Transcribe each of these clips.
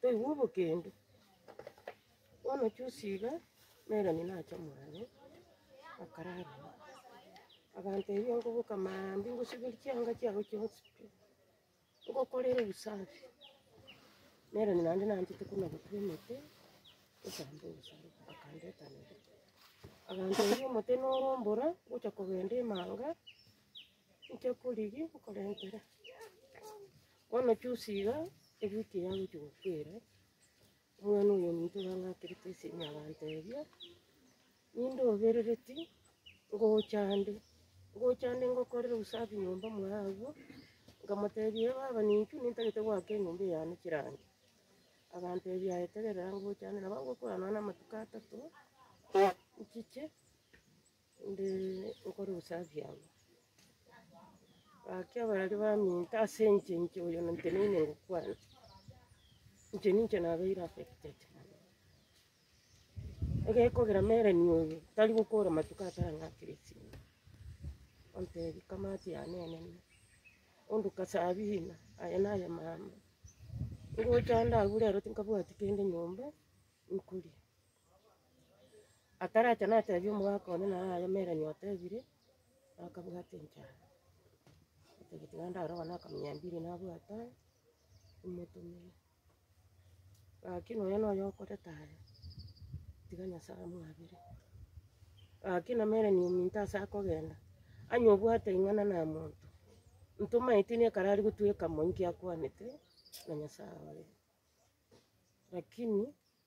Toigwa obokendu, bono chusi iga nere onya nache mwane, akarara ime. Agantebia nkoboka maambia ngosiberie chianga chiago chionsi pi, ngokorere obosafi, nere onya naende nanchete buna gotema emete, nkosambe obosafi, akandeta nere. Agantebia omote norombora, ngocha kogenda emanga. Inche korigi nkoretera, bono chusi iga ewiki eye agochia gokwera, omwana oyo ominto orang'akerete ase enyagento eria, ninde oberereti ngocha ande, ngocha ande ngokorera usafi nyomba mwaye agwo, nkamotebia ee baba nintwe nintagete goaka enyomba eye yane chirangi, agantebia aye tegerera ngocha ande, nabo agokora nonya na amatuko atato, nchiche. Inde nkore usafi abwo. Gaki abarwari baminto ase inche, inche oyo nteneine ngokwana, inche ninche nabeire affected. Egekogera Merlin oyo tari gokora matuko atari ang'aa kera esimo, ontebia kama ati yanenene, onduka sabina, aya naya mama, ngocha ande abwo rero tinkabwati kende nyomba nkoria. Ataracha natebia omogaka one naro ayemeranie otebire, akabwate enchara. Otagete naende naro abana bakamenya mbiri nabwate aye, emotumia. Lakini oyo noyo okoreta aye, tiga Nyasaye amwabere. Lakini ameranie ominto ase akogenda, onye obwate ring'ana na monto, ntoma eteni ekero aria gotweka monto ekero akwanete, na Nyasaye oye. Lakini.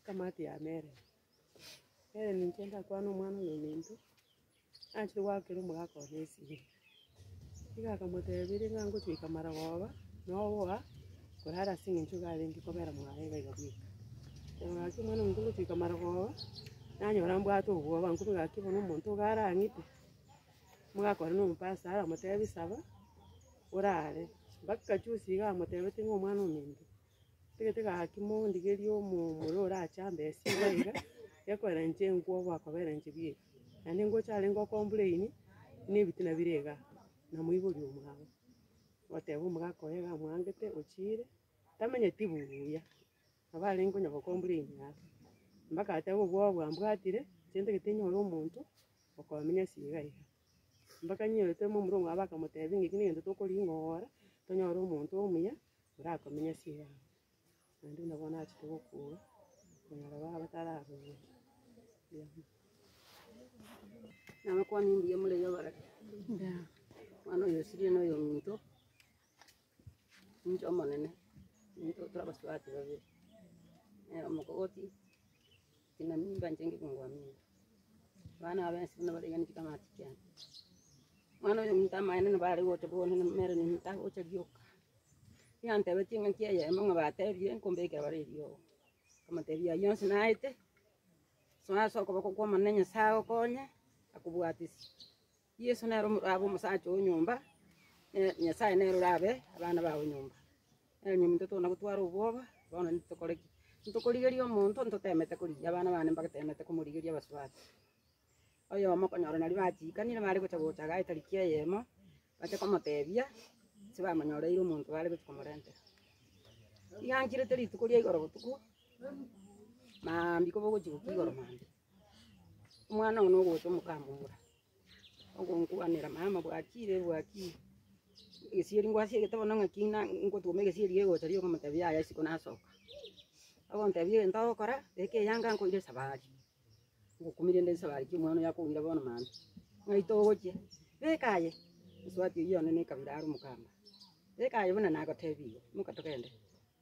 Ekamati ya Meremi. Meremi inche ndakwane omwana omominto, nachire goakera omogaka one esegi. Igo akamotebiri ng'a ngochia goika marogoba, noboa korara ase eng'encho iga arenge kobera mwaye iga iga bweka. Nabo gaki omwana ominto ngochia goika marogoba, nanyora mbwate obwoba, nkobua gaki bono omonto iga arang'ite, omogaka one nomopasta aramotebi saba, orare. Mpaka juzi iga amotebeti ng'a omwana ominto. Tigete gaki mondigerie omomura orache ambe esiko iga, gekoerenche enkwo gwakoberenche bieka. Naende ningocha arenge o-complain, na ebitina bire igaa, namoiboria omwabo, oteba omogaka oye iga amwangete, ochiire, tamenyeti buya, nabo arenge onye go-complain aa. Mpaka ateba obwoba bwambwatire, inche ntagete nyore omonto, okomenyosia iga iga. Mpaka nyiete momura omwabo akamotebia ng'eki negento tokoriing'ora, tonyore omonto omuya. orakomenya ching'ao, naende buna bono achete gokoa, konyora baba batarakoigwa. Nabakwani mbuya more iga bare, mwana oyo osirie noyo ominto, ominto omonene, ominto torabasubati babere, omokogoti. Inwe nimba nchenge kong'wa mimba, abana aba ense buna baraiganeti kamaati kiane. Omwana oyo omonto amaene nabo are gocha bono, na omere nimo tagocha rioka. Yantebetie engaki eyemo ng'a batebie nkombekera bare eriogo. Nkamotebia eyio yonsi naete, soa ase okoboko kw'Omonene Nyasae agokonye, akobwatisie. Yeso nere omorabe omosacha o nyomba, ne Nyasae nere orabe abana babo nyomba. Nere onye omonto tokona gotwara obwoba, bono ntitokore ki? Ntitokorigeria omonto, ntoteemete korigia abana bane, mbateemete komorigeria abasubati. Oyomo okonyora nario bachiikanire bare gocha gocha iga aye tariki eyemo, bache komoteebia ase bamonyoreire omonto bare gochia komorentera. Iga nchirete rituko ria igoro botuko, maambia koba ogochia gokia igoro maambia. Omwana one ogocha omokamomura, ogonkwanera, mama bwachire, bwachire, egesieri ngwasie egete bono ng'aki ng'a ngotoma egesieri gegocha riria okomotebia yaya isiko nasoka. Ogontebia egento ogokora, eke eyanga nkoire esabari, ngokumire nde esabari ki omwana oyo akoumire bono mambia, ng'ai togochia? Beka aye, mosubati oyio one ne ekabira are omokamba, beka aye buna nagotebirie, imoka togende.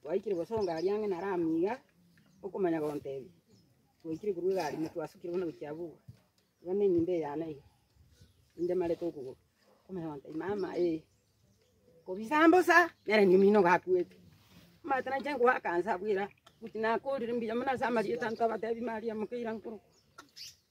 Twaikire gosonga aria ang'e naro amo iga, okomanya gontebia. Twaikire korwa egari ime twasukire buna gochia abwo, iga na enyomba eye yane iga, ninde marete okogoro. Okomanya gontebia, mama eh, kobisa mbosa, nere nigo omino gakuete. Omanyete nainche nkoakansa abwo ira, gochia nakorire mbuya mono ase amarieta ntobatebi maria moka ira nkorokwa.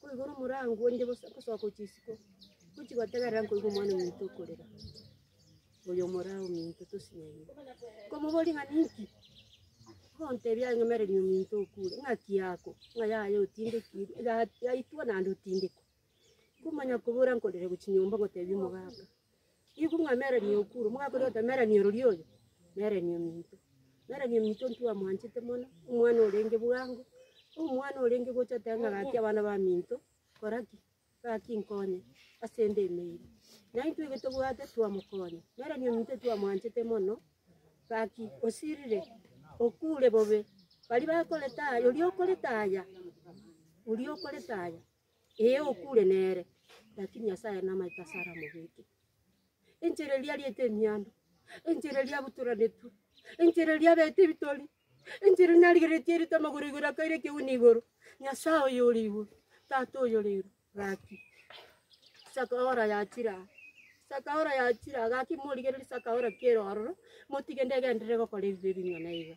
Koigora omorango onde gosoa gochia isiko, gochia gotegerera nkoigwa omwana ominto okorera. Oyo omorao ominto tosinyaiye. Nkomoboria ng'a ninki? Ontebia ang'emererie ominto okure. Ng'aki yako? Ng'a yaye otindekiri, ya- yaitwa naende otindekwa. Nkomanya kobora nkorere gochia nyomba ngotebia omogaka, Nigo ng'a Melanie Oukuru, omogakori otemeranie orori oyo, Melanie ominto. Melanie ominto ntwamwanchete mono, omwana orenge bwango, omwana orenge gocha oteba ng'a gaki abana baminto, kora ki? gaki nkonye asende emeeri. Naintwe igo tobwate twamokonya, Melanie ominto twamwanchete mono, gaki osirire, okure bobe, baria bakorete aya, oria okorete aya, oria okorete aya, Ee, okure nere, lakini Nyasaye namaete ase aramobeke. Enchera eria ariete emiando, enchera eria abutoranetwe, enchera eria abeete ebitori, enchera eria narigeretie airete amagoro igoro akaira ekeuni igoro. Nyasaye oyo ore igoro, Tata oyo ore igoro, gaki saka hora yachire aa, saka hora yachire aa, gaki morigererie saka hora ki'erio ororo, motige ndegenderere gokora ebibe ebing'ana iga.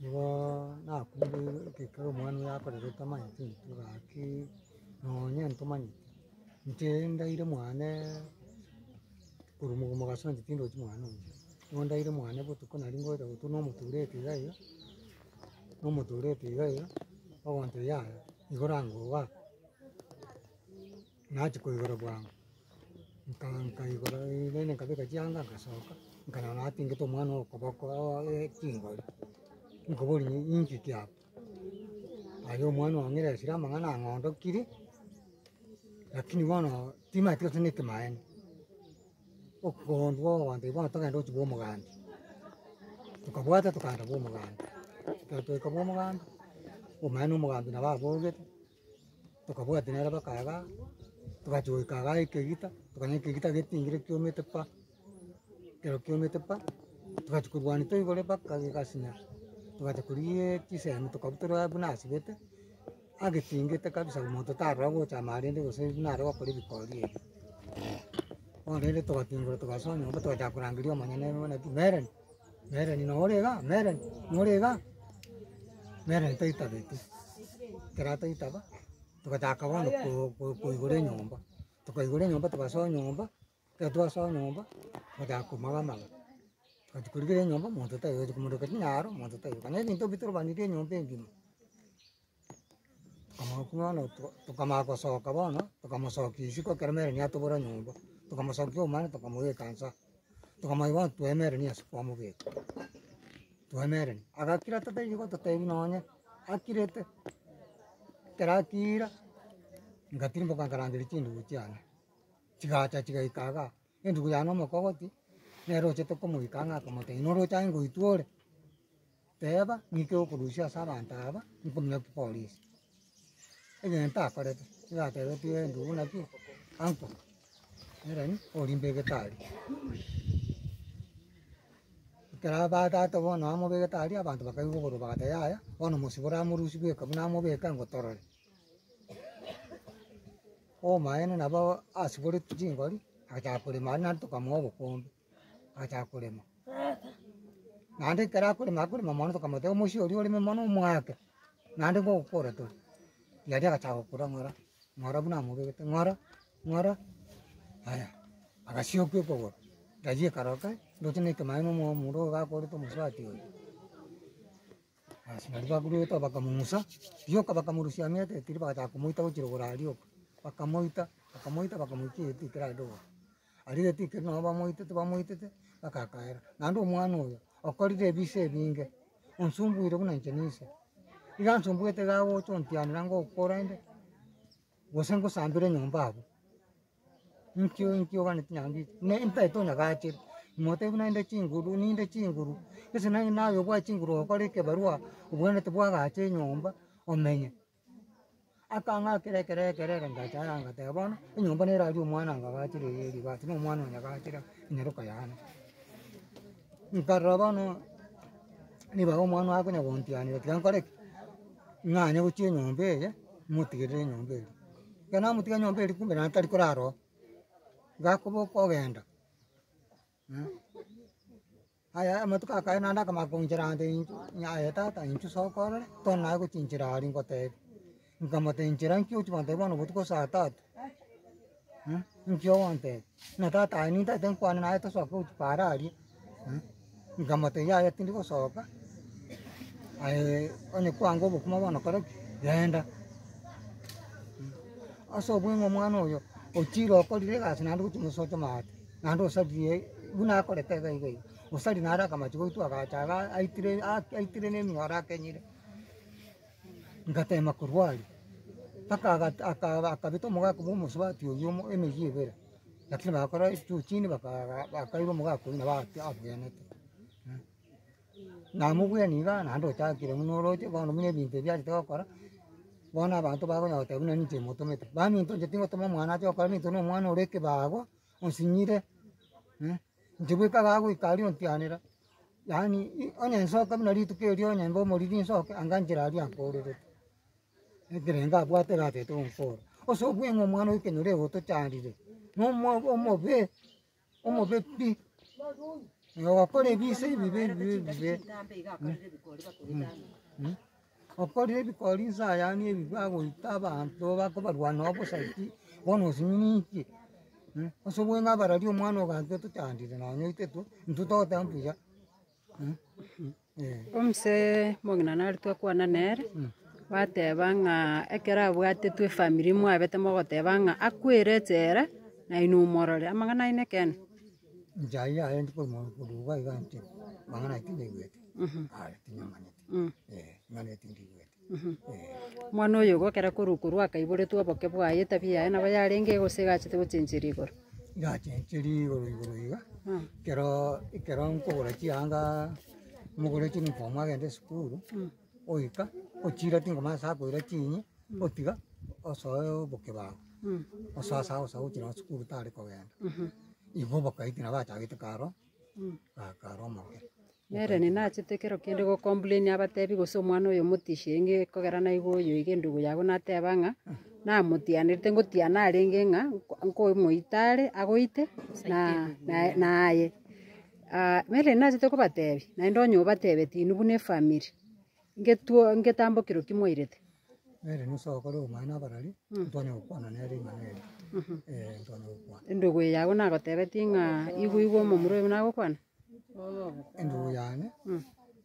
Nigo nakumbuire ekero omwana oye akorerete amaete intwe gaki, nonya ntomanyeti, inche ndaire mwane korwa mogomo gasonsi tindochi mwane oyo, nigo ndaire mwane botuko naria ngoeta gotwa na omotureti iga iga, na omotureti iga iga, ogonteba yaya, igo rango oa. Nachia koigora bwango, nka- nkaigora rende nkabeka chianga ngasoka, nkarora atingete omwana oo okoboko oooe chingori, nkoboria ng'a ninki ki aba? Aye omwana oo ng'ira esira amang'ana ang'ondokiri, rakini bono timanyeti gose niki maene, okondwa ogwancha iga bono togende gochia bwa omoganda, tokabwata tokaenda bwa omoganda, ekero twaika bwa omoganda, omaene na omoganda nabo abogete. Tokabwati nere baka iga, togacha goika iga ekegita, tokona ekegita getingire kiomete pa, ekero kiomete pa, togachia korwania toigoro baka gegasina, togacha korigia chisemi tokabua tore abwo buna asibete, agetingete kabisa omonto tarora gochama arende gose buna are gokora ebikori ebi. Bono rende togatingora togasoa nyomba togachaka korangeria omonyene bono ng'a ki, Mereni. Meroni, nore igaa, Meroni, nore igaa. Meroni taitabeti, ekero ataitaba, togotaka bono ko- ko- koigora enyomba, tokaigora enyomba togasoa nyomba, ekero twasoa nyomba, togotaka komoa amaga. Gati korigera enyomba, monto taigocha komondo gati naro, monto taigocha. Naende intwe bitobanetie enyomba engima. Omokuo bono tokamanya gosoka bono, tokamosokia isiko ekero Mary atobora nyomba, tokamosokia omwana tokamobeka inse aa, tokamanya bono tweneranie ase kwamobeka, tweneranie, agakira totari gototebia nonye, akirete, ekero akiira, ingatirimboka nkarangeria chindugu chiane, chigacha chigaika igaa. Entuko yane omokogoti, nere ochete komoika ang'e akomote, inwe roche aye ngoitwa ore, teeba ng'ike okorusia ase abanto aba, nkominyoki polisi. Egento akorete, nigo atebetie entuko buna ki, uncle, nere ni orimbe gitari. Ekero abagato bono bamobegete aria, abanto bakaigwa oborobimo bagateba yaya, bono mosibore amorusie bweka buna amobeke ango torore. Obomaene nabo asiboretie chingori, agachaka korema aria naende tokamoa obokombe, agachaka korema naende ekero akorema akorema mono tokamotebia omochie oria oreme mono omwake, naende ngokokora tore, riaria agachaka gokora ng'ora, ng'ora buna amobegete, ng'ora, ng'ora, aya agasioka ekogoro, riaria ekaroka, ndoche na ekemaeno omo- omorwabe akorete omosubati oyo. Ase nario bakoruta bakamong'usa rioka bakamorusia ang'ete etiri bagachaka komoita gochia rogoro aria rioka, bakamoita bakamoita bakamoikia egete ekero aria rogoro. Aria egete ekero nabo bamoitete bamoitete bagakaera, naende omwana oyo okorire ebiisa ebinge, onsumbuire buna inche na ise. Iga ansumbuete iga agocha ontianera ngokora inde, gose ngosambera enyomba abwo. Inkio inkio ogane chinyangi ichi, ne mpesa tonyagachere, mogotebi buna ninde chinguru ninde chinguru, gese naye naye obwate chinguru ogokora ekebarua, obwenerete bwagacha enyomba omenye. Akang'akera ekero ekero ere ndacha aya ngateba bono, enyomba nere aria omwana angagachere eye eri but na omwana onyagachere enyaroka yane. Nkarora bono nibaga omwana oye akonya gontianera tiga nkore ki? ng'anye gochia enyomba eye, motigerere enyomba eria. Iga namotiga nyomba eria kumbe naende tari korara oo, gakoboka ogenda aya amatuko akaye naende akamanya koinchera ande intwe, ng'a aye tata intwe soka orore, tore naye gochinchera aria ngotebie, nkamotebia inchera nki ochi gontebia bono botuko saa tatu, nki ogontebia? Buna tata aye nintagete nkwane naye tosoke gochia paara aria. Nkamotebia yaya tindi gosoka, aye onye kwango obokima bono kore ki? genda. Ase obwo ng'a omwana oyo ochire okorire egasi naende ogochi gocha gosocha amaate, naende osaririe buna akorete iga iga iga, osari nare akamache goitwa agacha iga aitire ake aitire na emiyoro akenyire. Ngatema korwa aria, mpaka aga aka akabeta omogaka bwa omosubati oyio omo emeyio ebere. Lakini bagakora juu chini baka- bakairwa omogaka oyio nabo ake abwenerete. Namobwene iga naende ochakire buna oroche bono buna ebinto ebi achete gokora, bono abanto bakonya goteba buna ninche motomete. Baminto inche tingotoma omwana ache gokora minto na omwana ore ekebago, osinyire, inche bweka iga agoika aria ontianera, yaani i- onye nsoke buna rituko erio onye mbe omoriri nsoke, anga nchera aria nkoorerete. Ekerengo abwate gatete onkoro, ase obweng'u omwana okenyoro igo otochandire, na omwa- omobe, omobe pi, na ogokora ebise ebibe ebibe ebibe, mmh, okorire ebikori inse ayane ebi bagoita abanto bakobarwa noo bosa ki, bono osimininki, mmh, ase obweng'u abarari omwana ogancha otochandire nonye oitete intwe togoteba mbuya. Omoseee omogima nare twakwana nere, bateba ng'a ekero abwatetwe efamiri mwabete mogoteba ng'a akwere echela, naye nomorore, amang'ana ayio nekene? Nchayia aye ndi korwa mwa- korwa iga iga inche, amang'ana ayio tindaigwete, aye, tinyamanyeti, eh, amang'ana ayio tindaigwete. Omwana oyo ogokera korwa korwa akaiboretwe oboke bwaye, etabia yaye nabo yarenge gose egachete gochencheria igoro. Ngachencheria igoro igoro iga, ekero ekero nkogora chianga mogore chunifomu agende esukuru, oika ochire tingomanya ase akoira chinyi, otiga osoe oboke bwago, osoe ase agocha gochia nonye sukuru tare kogenda. Igo oboke aitwe nabo achagete karo. Nere ninachete kero kende go complain abatebi gose omwana oyo omotisie inge kogera naigo oyo iga endugu yago nateba ng'a namotianerete ngotiana arenge ng'a nkomoita are agoite na naye naye. Nere ninachete kobatebi naende onye obatebeti inwe buna efamiri. Ngetwo ngetambokero ki mwairete? Nere Musa ogokora obomanu abarori, ntware gokwana nere ring'ana eri. Ee, ntware gokwana. Endogo eye yago nagotebetie ng'a igwe igwe omomura oyo buna agokwana? Endogo yane,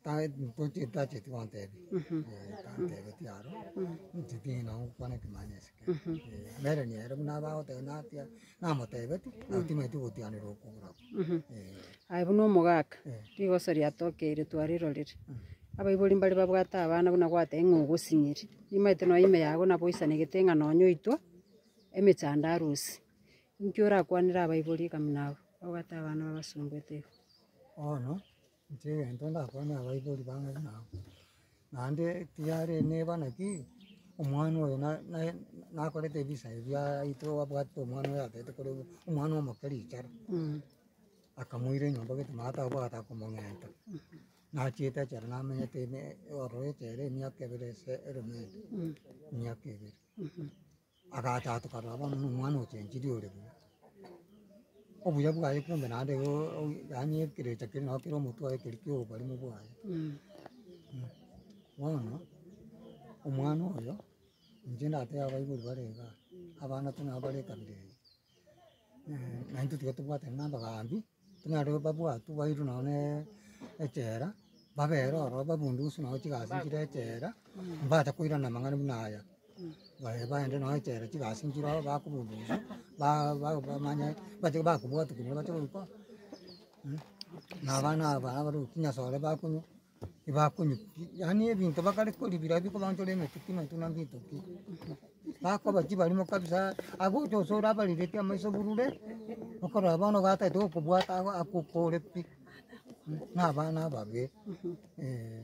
ta- ntoche- tacheti gontebia. Ee, tantebetie aro, ncheti ng'a nagokwana ekemanyeso kere. Ee, nere nere buna abagoteba natia, Namotebetie, nabo timanyeti ogotianera okwo korokwo. Aye buna omogaka, rigoso riatokeire twarirorire. Abaibori mbare babwate abana buna gwatebie ng'a ogosinyiri. Nimanyete nonya ime yago nabo oisanegete ng'a nonya oitwa emechando arusi. Inki orakwanere abaibori ekabuna abwo babwate abana babasomboete iga? Bono. Inche egento ndakwane abaibori bang'e buna abwo, naende tiyari neba naki, omwana oyo na- naye nakorete ebisa ebi aeto abwate omwana oyo atagete koregwa, omwana omoke richara, akamoira enyomba gete naye atabwate akomong'enta, nachiete achare namenyete ime ororo echere emiaka ebere ase erombe ere, emiaka ebere. Agataatokana bono na omwana ochenchiri ore buya, obuya bwaye kumbe naende oo- oo- yaani ekerecha kere nabo kere omotwe oye keri kia oborimo bwaye. Bono omwana oyo, inche ndateba abaibori bare igaa, abanto nabo bare ekabira eye. naye intwe tiga tobwatane na abagambi, buna ere babwatwe bairwe nonya na echela, babera ororo babunde gose nonya chigasi chire echela, mbabate koirana amang'ana buna aya, bae baende nonya echela chigasi nchire ororo bakobunga ororo, ba- ba- bamanye bati- bakobwatwa kende bache goika, na abana aba abare gokinyia sore bakonywa. tibakonyigwa, yaani ebinto bakare kori bira biri korwa ntore emechie pi naintwe nande etoki, bakoba chibarimo kabisa agwo oche gose orabarereti amaiso burure, okorora bono ogataete gokobwata agwo aka oko ore pi, na abana ababe, eeh.